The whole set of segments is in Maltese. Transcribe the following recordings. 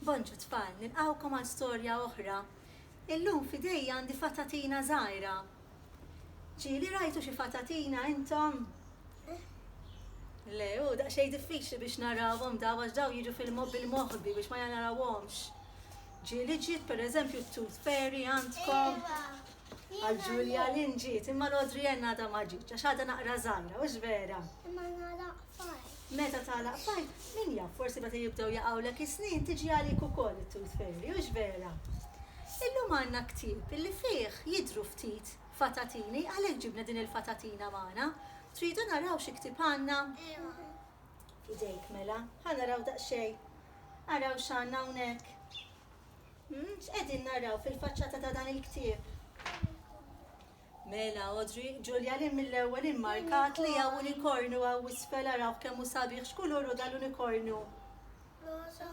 Bonġu tfal, nilqgħukom għal storja oħra. Illum f'idejja għandi fatatina żgħira. Ġieli rajtu xi fatatina intom? Le, hu daqsxejn diffiċli biex narawhom dawn għax dawn jiġu fil-moħ bil-moħbi biex ma narawhomx. Ġieli ġiet pereżempju t-tooth fairy għandkom? Għal Ġulja Lynn ġiet, imma l-Audrey Ann għadha ma ġietx għax għadha naqra żgħira, hux vera? Meta tagħlaq pajp, min jaf, forsi meta jibdew jaqgħulek is-snien tiġi għalik ukoll it-tooth fairy, hux vera? Illum għandna ktieb illi fih jidhru ftit fatatini, għalhekk ġibna din il-fatatina magħna. Tridu naraw xi ktieb għandna? Ejwa. F'idejk mela, ħa naraw daqsxejn. Araw x'għandna hawnhekk. X'qegħdin naraw fil-faċċata ta' dan il-ktieb? Mela Audrey, Ġulja li mill-ewwel immarkat li hawn unikornu hawn isfel arawh kemm hu sabiħ x'kulur hu dal-unikornu? Roża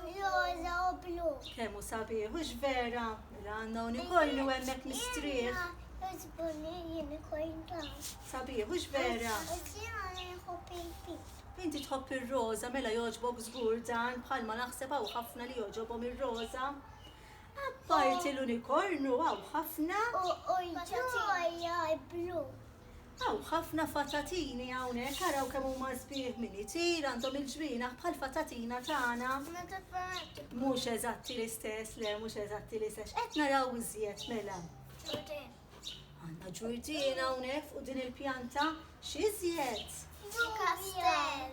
u blu. Kemm hu sabiħ hux vera? Mela għandna unikornu hemmhekk mistrieħ. Sabiħ hux vera? Inti tħobb ir-roża mela jogħġbok żgur dan bħalma naħseb hawn ħafna li jogħġobhom ir-roża. Apparti l-unikornu hawn ħafna. U ġoja blu. Hawn ħafna fatatini hawnhekk, araw kemm huma sbieħ min itir, għandhom il-ġwienaħ bħal fatatina tagħna. Mhux eżatti l-istess, le mhux eżatti l-istess. X'qed naraw iżjed mela? Għandna ġurdina hawnhekk fuq din il-pjanta x'izjed? Kastell.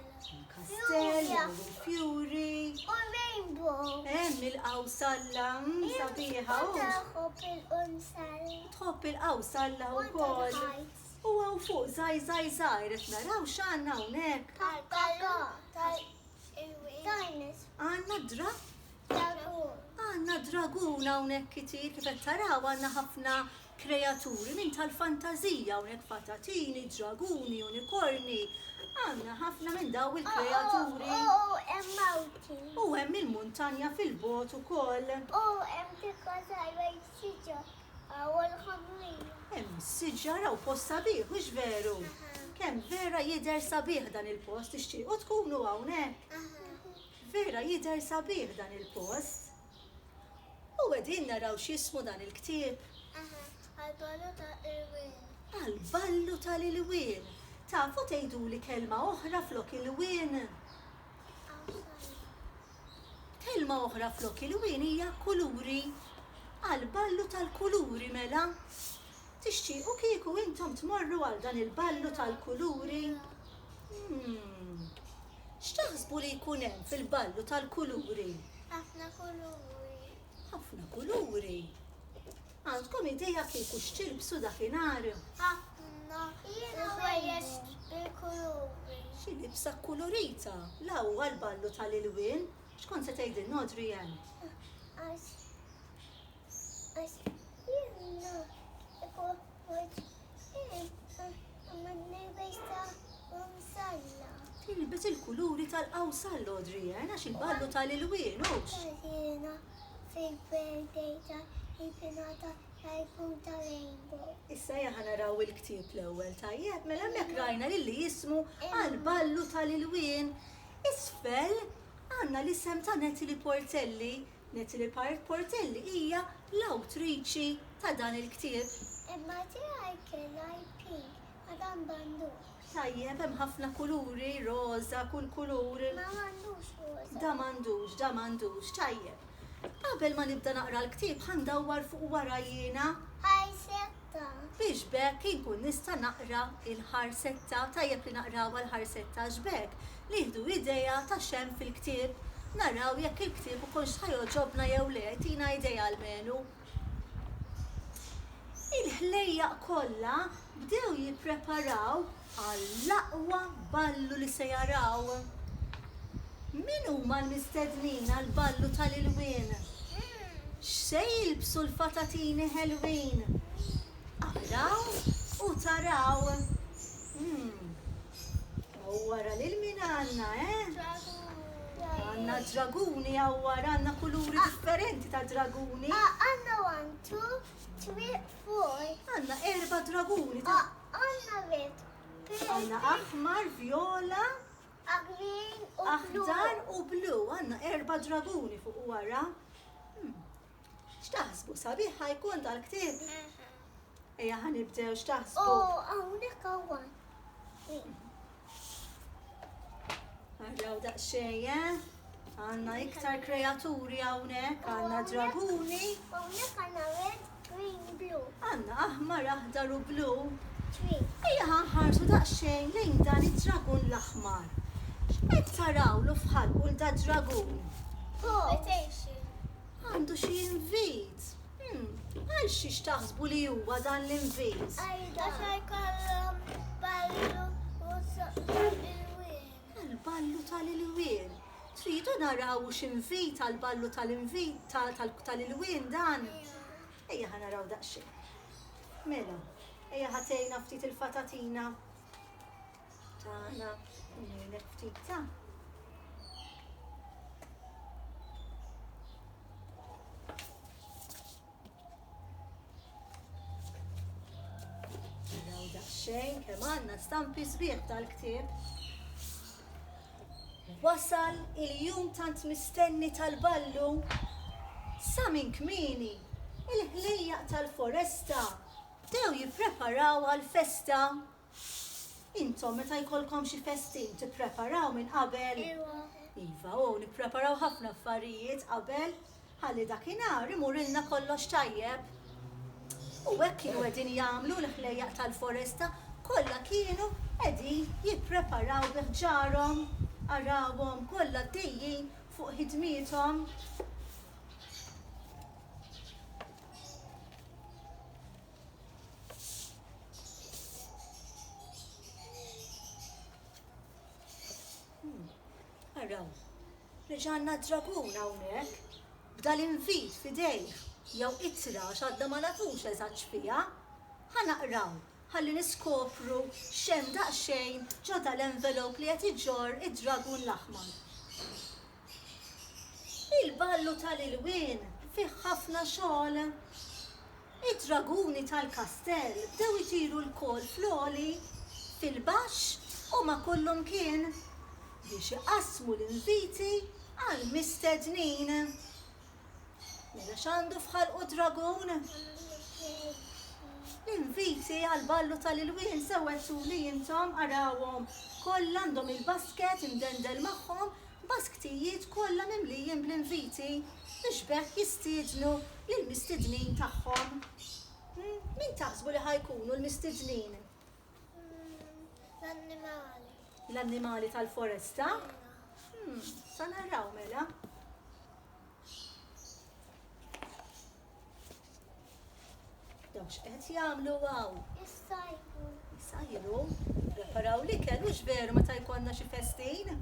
Kastell, fjuri. U rainbow. Hemm il-qawsalla mm, sabiħa. Tħobb il-qawsalla. Tħobb il-qawsalla wkoll. U għaw fuq zaj zaj zaj, qed naraw x'għandna hawnhekk. Tal-kallon, tal-dinosaur. Għandna draft Għandna dragun hawnhekk kitier, kif qed taraw għandna ħafna kreaturi minn tal-fantażija hawnhekk patatini, draguni, unikorni, għandna ħafna minn daw il-kreaturi. U hemm il-muntanja fil-bogħod ukoll. U hemm tikka żgħira jsiġġa u l-ħamrija. Hemm siġġara u post sabiħ, mhux veru? Kemm vera jidher sabiħ dan il-post, tixtiequ tkunu hawnhekk? Vera jidher sabiħ dan il post. U qegħdin naraw x'jismu dan il ktieb? Eħe, Għal ballu ta' Ilwien. Għal ballu ta' l-Ilwien. Tafu tgħiduli kelma oħra flok Ilwien? Awsana. Kelma oħra flok Ilwien hija kuluri. Għal ballu tal-kuluri mela. Tixtiequ kieku intom tmorru għal dan il-ballu tal-kuluri? Umm. X'taħsbu li jkun hemm fil-ballu tal-kuluri? Ħafna kuluri. Ħafna kuluri. Għandkom idea kieku x'tilbsu dakinhar? Ħafna ħwejjeġ bil-kuluri. Xi libsa kkulurita. La huwa l-ballu tal-ilwien? X'kont se tgħidilna Adrian? Għax. Tilbes il-kuluri tal-qawsal l-għodrija, għax il-ballu tal-ilwien, hux. Għazina fil-birthday ta' il-pinata tal-kum tal-rainbow. Issa jaħa naraw il-ktieb l-ewwel tajjeb, mela hemmhekk rajna lilli jismu għal-ballu tal-ilwien. Isfel għandna l-isem ta' Natalie Portelli Natalie Payrt Portelli hija l-awtriċi ta' dan il-ktieb. Imma tiegħi kien IP, Madam Bandur. Tajjeb, hemm ħafna kuluri, roża, kull kulur. Ma m'għandux roża. Da m'għandux, da m'għandux. Tajjeb. Qabel ma nibda naqra l-ktieb ħa ndawwar fuq wara jiena. Isaac ta'. Biex b'hekk inkun nista' naqra l-ħarsetta, tajjeb li naqrawha l-ħarsetta għax b'hekk nieħdu idea ta' x'hemm fil-ktieb, naraw jekk il-ktieb ikunx ħa jogħġobna jew le, jtina idea almenu. Il-ħlejjaq kollha bdew jippreparaw għall-aqwa ballu li se jaraw. Min huma l-mistednin għall-ballu tal-ilwien? X'se jilbsu l-fatatini ħelwin? Araw u taraw. Hawn wara lil min għandna, eh? Għandna d-draguni hawn wara, għandna kuluri differenti ta' draguni. Għandna erba' draguni ta' Għandna red, pink. Għandna aħmar, vjola. Green u Aħdar u blu. Għandna erba' draguni fuq u wara. Hmm. X'taħsbu sabiħ ħajkun dal-ktieb? Ejja ħanibdew x'taħsbu. Oh, hawnhekk hawn. Għandaw daqxej, eh? Għanna iktar kreaturi għawnek, għanna draguni. Għawnek għanna red, green, blue. Għanna aħmar, aħdar u blu. Ejja ħanħarsu daqxej lejn dan id-dragun l-aħmar. X'qed taraw lu fħalqu l-da dragun? Għandu xie invit. Għal xiex taħsbu li huwa dan l-invis? Għax ħajkollhom ballu u tal-ilwien. Għall-ballu tal-ilwien. Tridu naraw hux invit għall-ballu tal-ilwien dan? Ejja ħa naraw daqsxejn. Mela, ejja ħa tgħinna ftit il-fatatina. Tara, ngħidlek ftit ta'. Naraw daqsxejn kemm għandna stampi sbieħ tal-ktieb. Wasal il-jum tant mistenni tal-ballu sa minn kmini il-ħlejjaq tal-foresta bdew jippreparaw għal festa Intom meta jkollkom xi festin tippreparaw minn qabel? Iva. Iva, u nippreparaw ħafna affarijiet qabel ħalli dakinhar imurilna kollox tajjeb. U hekk kienu qegħdin jagħmlu l-ħlejjaq tal-foresta kollha kienu qegħdin jippreparaw bi ħġarhom. Arawhom kollha għaddejjin fuq ħidmiethom. Araw, reġa' għandna d-dragun hawnhekk, b'dan l-invit f'idejh, jew ittra għax għadna ma nafux eżatt x'fiha. Ħa naqraw ħalli niskopru x'hemm daqsxejn ġo dal-envelop li qed iġorr id-dragun l-aħmar. Il-ballu tal-ilwien fih ħafna xogħol. Id-draguni tal-kastell bdew itiru lkoll fl-għoli, fil-baxx u ma' kullumkien biex iqassmu l-inviti għall-mistednin. Mela x'għandu f'ħalqu d-dragun? L-inviti għall-ballu tal-ilwien sew għedtuli intom, arawhom, kollha għandhom il-basket imdendel magħhom, basktijiet kollha mimlijin bl-inviti biex b'hekk jistiednu lill-mistednin tagħhom. Min taħsbu li ħa jkunu l-mistednin? L-annimali. L-annimali tal-foresta? Sa naraw mela. Daw x'qed jagħmlu hawn? Issajru. Issajru? Preparaw l-ikel u x'veru meta jkollna xi festin?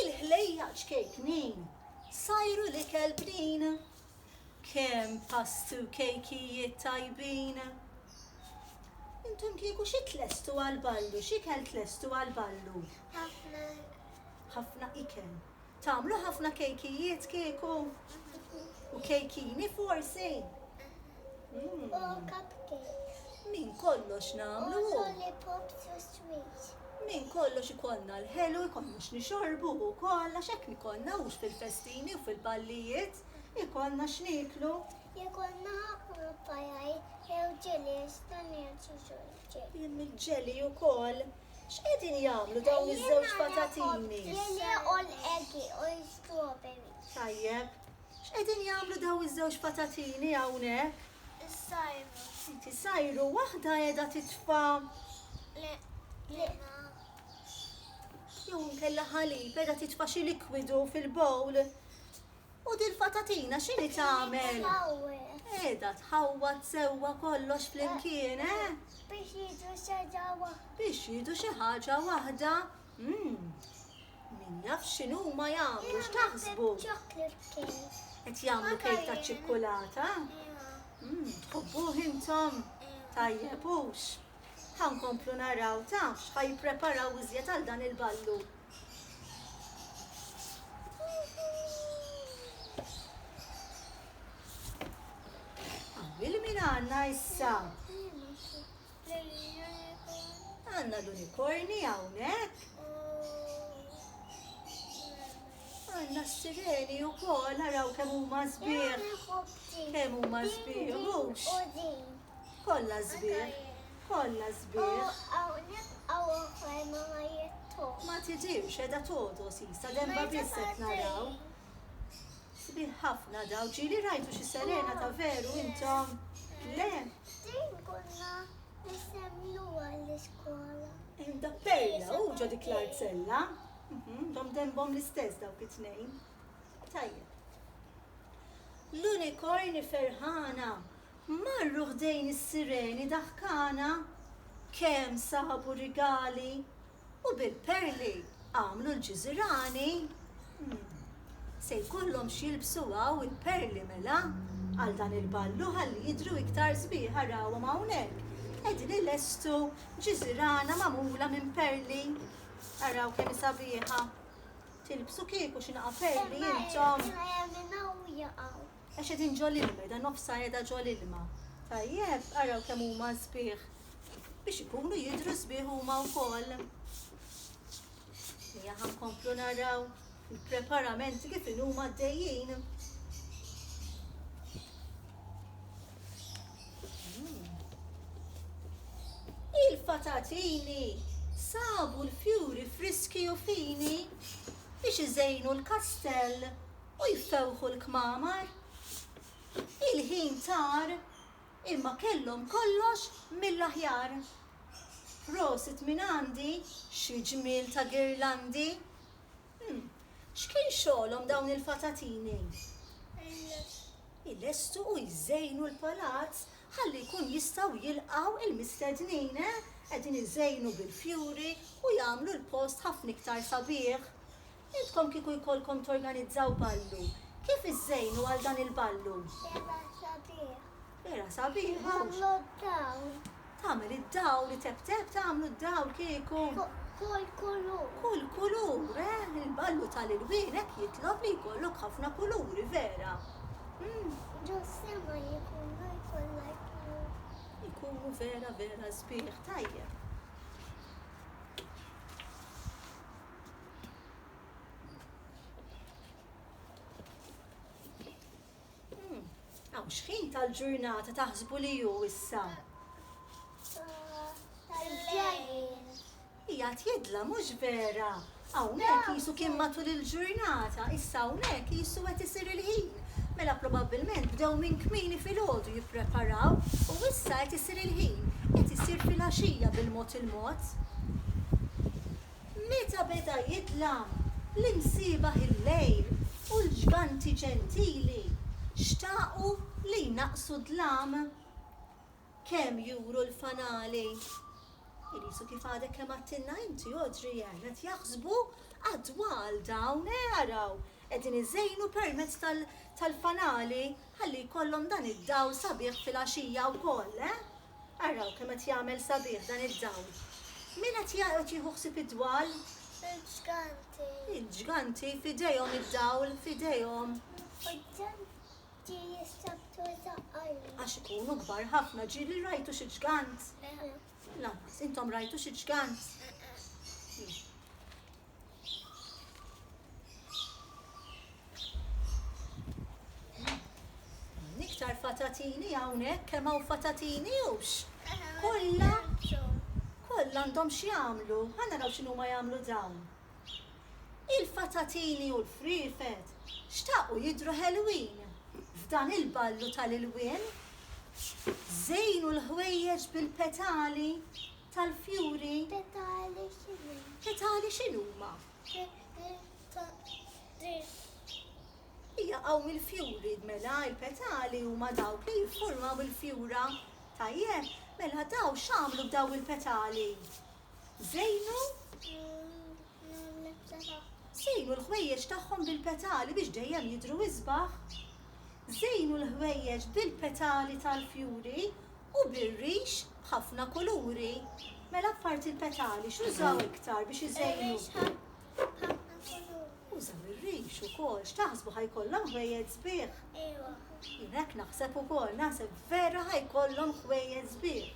Il-ħlejja ċkejknin sajru l-ikel bnin. Kemm pastu kejkijiet tajbin. Intom kieku xi tlestu għal-ballu, x'ikel tlestu għal-ballu? Ħafna. Ħafna ikel. Tagħmlu ħafna kejkijiet kieku? U kejkini forsi? Minn kollox nagħmlu. Minn kollox ikollna l-ħelu, ikollna x'nixorbu wkoll għax hekk ikollna hux fil-festini u fil-ballijiet, ikollna x'nieklu. Ikollna ħafna pajaj jew ġelis ta' niesu ġolġi. Hemm il-ġeli wkoll. X'qegħdin jagħmlu dawn iż-żewġ patatini? Tajjeb. X'qegħdin jagħmlu dawn iż-żewġ patatini hawnhekk? Isajru waħda qiegħda titfa' jew inkella ħalib qiegħda titfa' xi likwidu fil-bowl. U dil-fatatina x'inhi tagħmel? Qiegħda tħawwad sewwa kollox flimkien, eh? Biex jiedu xi ħaġa waħda. Biex jiedu xi ħaġa waħda. Mmm. Min jaf x'inhuma jagħmlu, x'taħsbu? Qed jagħmlu kejk taċ-ċikkulata? Mmm, tħobbuh intom? Tajjeb, hux? Ħa nkomplu naraw, taf x'ħa jippreparaw iżjed għal dan il-ballu. Għamil min għanna issa? Għanna l-unikorni għawnek? Għanna s-sireni u kol, naraw kemm huma sbieħ. Kemm huma sbieħ, Kollha sbieħ, kollha sbieħ. U hawn nibqgħu oħrajn ma ma jitħux. Ma tidhirx qiegħda togħdos isa denba biss qed naraw. Sbieħ ħafna daw. Ġieli rajtu xi serena ta' veru intom? Le? Din konna nissemmluha l-iskola. Hemm da Perla u ġo dik l-art sella. Dom denbhom l-istess dawk it-tnejn. Tajjeb. L-unikorni ferħana. Marru ħdejn is-sireni daħkana, kemm sabu rigali, u bil-perli għamlu l-ġiżirani. Se jkollhom x'jilbsu hawn il-perli mela, għal dan il-ballu ħalli jidhru iktar sbieħ arawhom hawnhekk qegħdin ilestu ġiżirana magħmula minn perli. Araw kemm hi sabiħa. Tilbsu kieku xi naqa' perli intom. Għax qegħdin ġol-ilma, qiegħda nofsha qiegħda ġol-ilma. Tajjeb, araw kemm huma sbieħ. Biex ikunu jidhru sbieħ huma wkoll. Ejja ħankomplu naraw il-preparamenti kif inhuma għaddejjin. Hmm. Il-fatatini sabu l-fjuri friski u fini biex iżejnu l-kastell U jfewħu l-kmamar. Il-ħin tar imma kellhom kollox mill-aħjar. Prosit minn għandi, xi ġmiel ta' girlandi. Hm, x'kien xogħolhom dawn il-fatatini? Ilestu u jżejnu l-palazz ħalli jkun jistgħu jilqgħu il-mistednin, eh! Qegħdin iżejnu bil-fjuri u jagħmlu l-post ħafna iktar sabiħ. Intkom kieku jkollkom torganizzaw ballu, kif iżżejnu għal dan il-ballu? Bera sabiħ. Bera sabiħ, hux? Tagħmlu d-dawl. Tagħmel id-dawl, iteptep tagħmlu d-dawl kieku. Kull kulur. Kull kulur, eh? Il-ballu tal-ilwien hekk jitlob li jkollok ħafna kuluri, vera? Hmm. Ġossema jkunu jkollha jkunu vera vera sbieħ tajjeb. Għaw xħin tal-ġurnata taħsbu li ju issa? Ija tjedla mux vera. Għawnek jisu kien matul il-ġurnata, issa għawnek jisu għet isir il-ħin. Mela probabilment bdew minn kmini fil-ħodu jipreparaw u issa għet isir il-ħin, għet isir fil-axija bil-mot il-mot. Meta beda jidlam, l-imsiebaħ il-lejl u l-ġganti ġentili xtaqu li jnaqqsu d-dlam. Kemm juru l-fanali! Qisu kif għadek kemm għadtilna inti, Audrey, eh, qed jaħsbu għad-dwal dawn, eh, araw, qegħdin iżejnu permezz tal-fanali ħalli jkollhom dan id-dawl sabiħ fil-għaxija wkoll, eh! Araw kemm qed jagħmel sabiħ dan id-dawl. Min qed jaqgħod jieħu ħsieb id-dwal? Il-ġganti. Il-ġganti f'idejhom id-dawl f'idejhom. U ġganti jistabtu żaqqarli. Għax ikunu kbar ħafna ġieli rajtu xi ġgant? Le. Lanqas, intom rajtu xi ġgant? Le. Iktar fatatini hawnhekk kemm hawn fatatini hux? Kollha kollha għandhom x'jagħmlu. Ħa naraw x'inhuma jagħmlu dawn. Il-fatatini u l-friefet xtaqu jidhru ħelwin f'dan il-ballu tal-ilwien. Żejnu l-ħwejjeġ bil-petali tal-fjuri. Petali x'inhuma? Petali x'inhuma? Jaqgħu mill-fjuri, mela l-petali huma dawk li jiffurmaw il-fjura. Tajjeb, mela daw x'għamlu b'daw il-petali? Żejnu? Żejnu l-ħwejjeġ tagħhom bil-petali biex dejjem jidhru isbaħ. Żejnu l-ħwejjeġ bil-petali tal-fjuri U bir-rix b'ħafna kuluri. Mela apparti l-petali x'użaw iktar biex iżejnu? Ir-rix b'ħafna kuluri. Użaw ir-rix ukoll. X'taħsbu ħa jkollhom ħwejjeġ sbieħ? Ejwa. Jien hekk naħseb ukoll, naħseb vera ħa jkollhom ħwejjeġ sbieħ.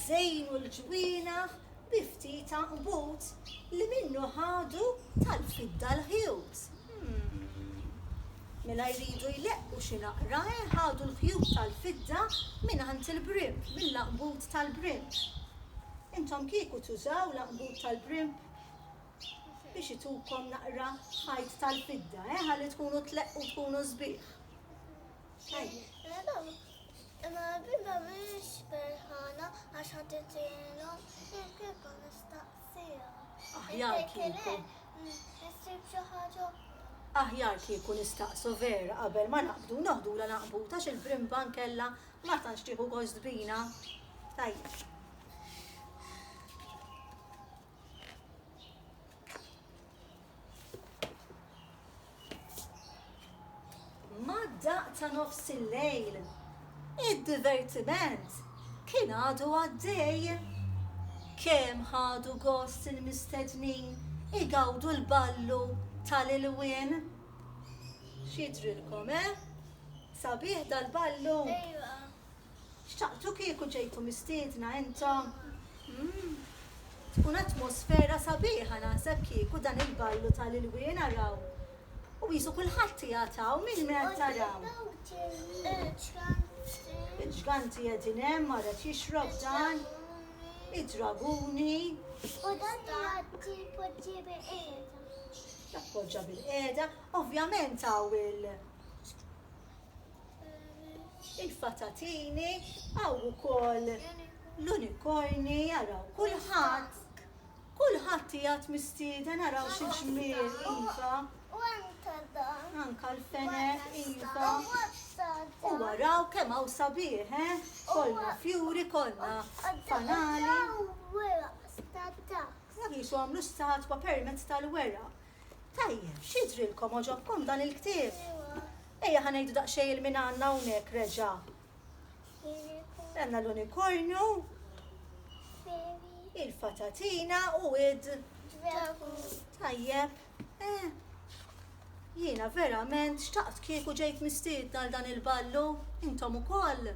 Żejnu l-ġwienaħ bi ftit anbut li minnu ħadu tal-fidda l-ħjut. Mela jridu jleqqu xi naqra, eh, ħadu l-ħjut tal-fidda mingħand il-brimp, mill-anbut tal-brimp. Intom kieku tużaw l-anbut tal-brimp biex itukom naqra ħajt tal-fidda, eh, ħalli tkunu tleqqu tkunu sbieħ? Ejja. Imma l-bimba mhix ferħana għax ħadd itilhom xi kieku nistaqsija. Aħjar kieku. Issib xi ħaġa oħra. Aħjar kieku nistaqsu vera qabel ma naqbdu noħdulha naqbud għax il-brimba nkella ma tantx tieħu gost bina. Tajjeb. Mad-daqq ta' nofs il-lejl, id-divertiment kien għadu għaddej. Kemm ħadu gost il-mistednin igawdu l-ballu tal-ilwien! X'jidhrilkom, eh? Sabiħ dal-ballu? X'taqblu kieku ġejtu mistiedna intom? Umm. Tkun atmosfera sabiħa naħseb kieku dan il-ballu ta' l-ilwien araw. U qisu kulħadd qiegħed hawn, min ma qed taraw? Iġganti qegħdin hemm, ara qed jixrob dan, id-draguni. U dan jgħaddi jpoġġi bil-qiegħda. Jappoġġa bil-qiegħda. Ovvjament hawn il. il-fatatini, hawn ukoll l-unikorni, araw kulħadd, kulħadd qiegħed mistieden araw xi ġmiel iva. Anka l-fenek iva. U araw kemm hawn sabiħ, eh? Kollna fjuri, kollna fanali. Jisu għamlu statwa permezz tal-weraq. Tajjeb, x'jidhrilkom, għoġobkom dan il-ktieb? Ejja ħa ngħidu daqsxejn il-min għandna hawnhekk reġa'. Għandna l-unikornju, il-fatatina u id. Tajjeb, eh. Jiena verament xtaqt kieku ġejt mistiedna għal dan il-ballu, intom ukoll?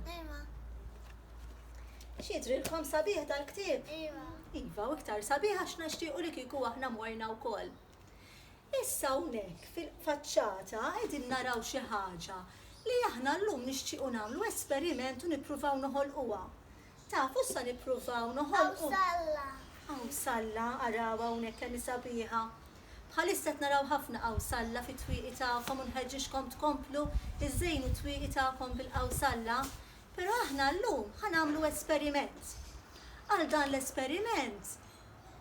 Xidrilkom sabiħ dal-ktieb? Iva. Iva, u iktar sabiħ għax nixtiequ li kieku aħna morna wkoll. Issa hawnhekk fil-faċċata qegħdin naraw xi ħaġa li aħna llum nixtiequ nagħmlu esperiment u nippruvaw noħolquha. Tafu sa nippruvaw noħolqu? Qawsalla. Qawsalla, araw hawnhekk kemm hi sabiħa. Bħalissa qed naraw ħafna qawsalla fit-twieqi tagħkom u nħeġġiġkom tkomplu żżejnu t-twieqi tagħkom bil-qawsalla. Però aħna llum ħa nagħmlu esperiment. Għal dan l-esperiment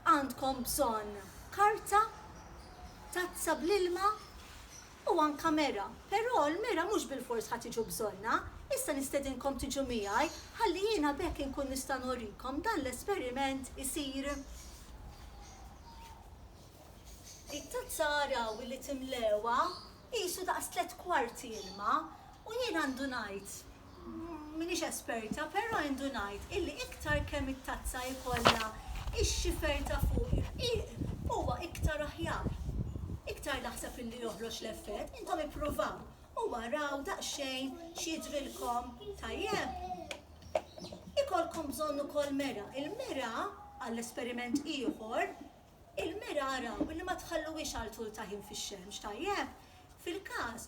għandkom bżonn karta, tazza bl-ilma u anke mera. Però l-mera mhux bilfors ħa tiġu bżonnha. Issa nistedinkom tiġu miegħi ħalli jiena b'hekk inkun nista' nurikom dan l-esperiment isir. It-tazza araw li timlewha Qisu daqs tliet kwarti ilma u jien għandu ngħid, m'iniex esperta, però għandu ngħid illi iktar kemm it-tazza jkollha x-xifer ta' fuq ir-rqiq huwa iktar aħjar. Iktar naħseb illi joħroġ l-effett, intom ippruvaw u araw daqsxejn x'jidhrilkom tajjeb. Ikollkom bżonn ukoll mera, il-mera, għall-esperiment ieħor, Il-mira araw li ma tħalluhiex għal tul ta' ħin fix-xemx, tajjeb? Fil-każ,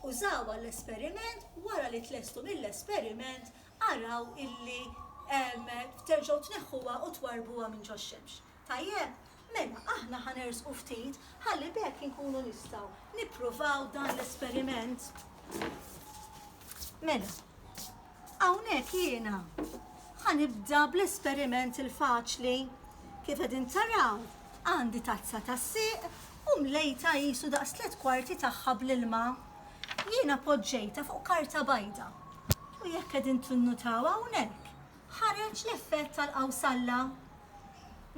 użaw għall-esperiment, wara li tlestu mill-esperiment, araw illi terġgħu tneħħuha u twarrbuha minn ġox-xemx. Tajjeb? Mela, aħna ħa nersqu ftit ħalli b'hekk inkunu nistgħu nippruvaw dan l-esperiment. Mela. Hawnhekk jiena ħa nibda bl-esperiment il-faċli. Kif qegħdin taraw, għandi tazza tas-sieq u mlejtha qisu daqs tliet kwarti tagħha bl-ilma. Jiena poġġejtha fuq karta bajda u jekk qegħdin tinnutaw hawnhekk, ħareġ l-effett tal-qawsalla.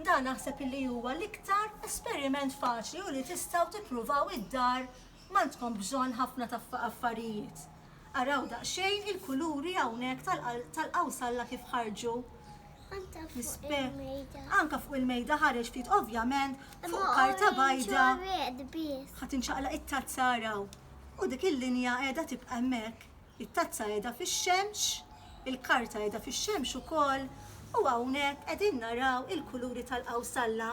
Dan naħseb illi huwa l-iktar esperiment faċli u li tistgħu tippruvaw id-dar, m'għandkom bżonn ħafna affarijiet. Araw daqsxejn il-kuluri hawnhekk tal-qawsalla kif ħarġu. Anka fuq il-mejda ħareġ ftit ovvjament fuq karta bajda. Ħadd inċaqla it-tazza araw. U dik il-linja qiegħda tibqa' hemmhekk. It-tazza qiegħda fix-xemx, il-karta qiegħda fix-xemx ukoll u hawnhekk qegħdin naraw il-kuluri tal-qawsalla.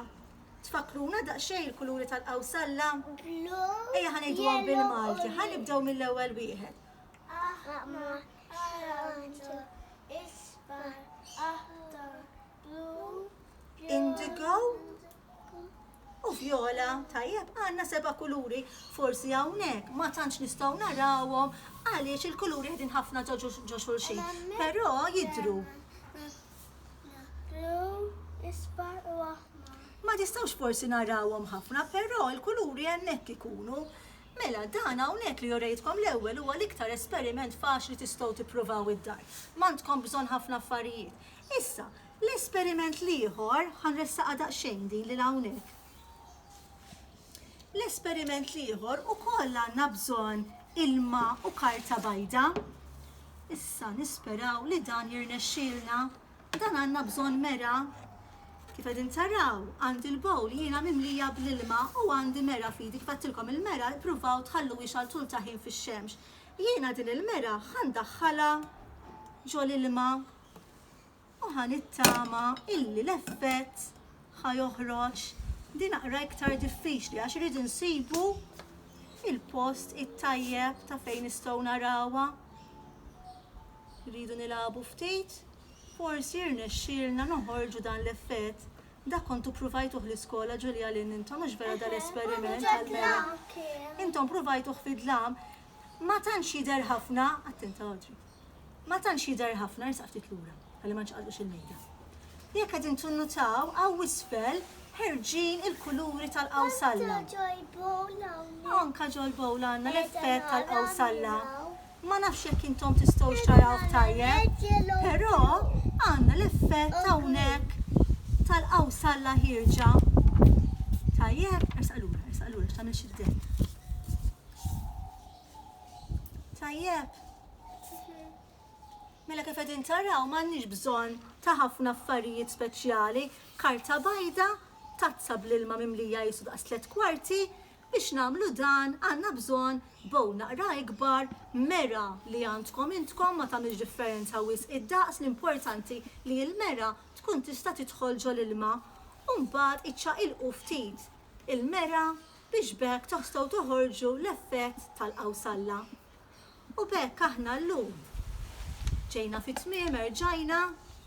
Tfakkruna daqsxejn il-kuluri tal-qawsalla? Blu. Ejja ħa ngħiduhom bil-Malti. Ħa nibdew mill-ewwel wieħed. Aħmar, aranġu, isfar, aħdar, blu, indigo u vjola. Tajjeb, għandna seba' kuluri. Forsi hawnhekk ma tantx nistgħu narawhom għaliex il-kuluri qegħdin ħafna ġo xulxin. Però jidru. Ma tistgħux forsi narawhom ħafna, però l-kuluri hemmhekk ikunu. Mela, dan hawnhekk li urejtkom l-ewwel huwa l-iktar esperiment faċli tistgħu tippruvaw id-dar. M'għandkom bżonn ħafna affarijiet. Issa, l-esperiment l-ieħor, ħa nressaqha daqsxejn din lil hawnhekk. L-esperiment l-ieħor ukoll għandna bżonn ilma u karta bajda. Issa nisperaw li dan jirnexxielna. Dan għandna bżonn mera. Kif qegħdin taraw, għandi l-bowl jiena mimlija bl-ilma u għandi mera fidi. Kif għattilkom il-mera, ippruvaw tħallu wix għal tul ta' ħin fix-xemx. Jiena din il-mera ħandaħħalha ġol ilma. u ħa nittama illi l-effett ħa joħroġ. Din aqra iktar diffiċli għax irid insibu il-post it-tajjeb ta' fejn nistgħu narawha. Rridu nilagħbu ftit, forsi rnexxielna noħorġu dan l-effett. Dak kontu provajtuh l-iskola Ġulja lin intom mhux vera dal-esperiment għal-mera. Intom provajtuh fid-dlam, ma tantx jidher ħafna, attenta Audrey. ma tantx jidher ħafna, ersaq ftit lura ħalli ma nċaqalqux il-mejda. Jekk qegħdin tinnutaw hawn isfel ħerġin il-kuluri tal-qawsalla. Anka ġol-bowl għandna l-effett tal-qawsalla. Ma nafx jekk intom tistgħu xtarawh tajjeb, però għandna l-effett hawnhekk tal-qawsalla ħirġa. Tajjeb, ersaq lura, ersaq lura x'tagħmel xi Tajjeb. Mela kif qegħdin taraw m'għandniex bżonn ta' ħafna affarijiet speċjali, karta bajda, tazza bl-ilma mimlija jisu daqs tliet kwarti, biex nagħmlu dan għandna bżonn bow naqra ikbar, mera li għandkom intkom ma tagħmilx differenza wisq id-daqs l-importanti li l-mera tkun tista' tidħol ġol-ilma. U mbagħad iċċaqilqu ftit il-mera biex b'hekk tostgħu toħorġu l-effett tal-qawsalla. U b'hekk aħna llum ġejna fit-tmiem, erġajna,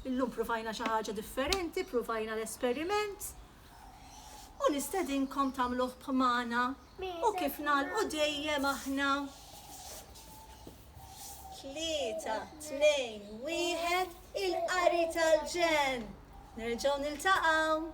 illum pruvajna xi ħaġa differenti, pruvajna l-esperiment u nistedinkom tagħmluh b'magħna u kif nagħlqu dejjem aħna. Tlieta, tnejn, wieħed, il-qari tal-ġenn. Nerġgħu niltaqgħu.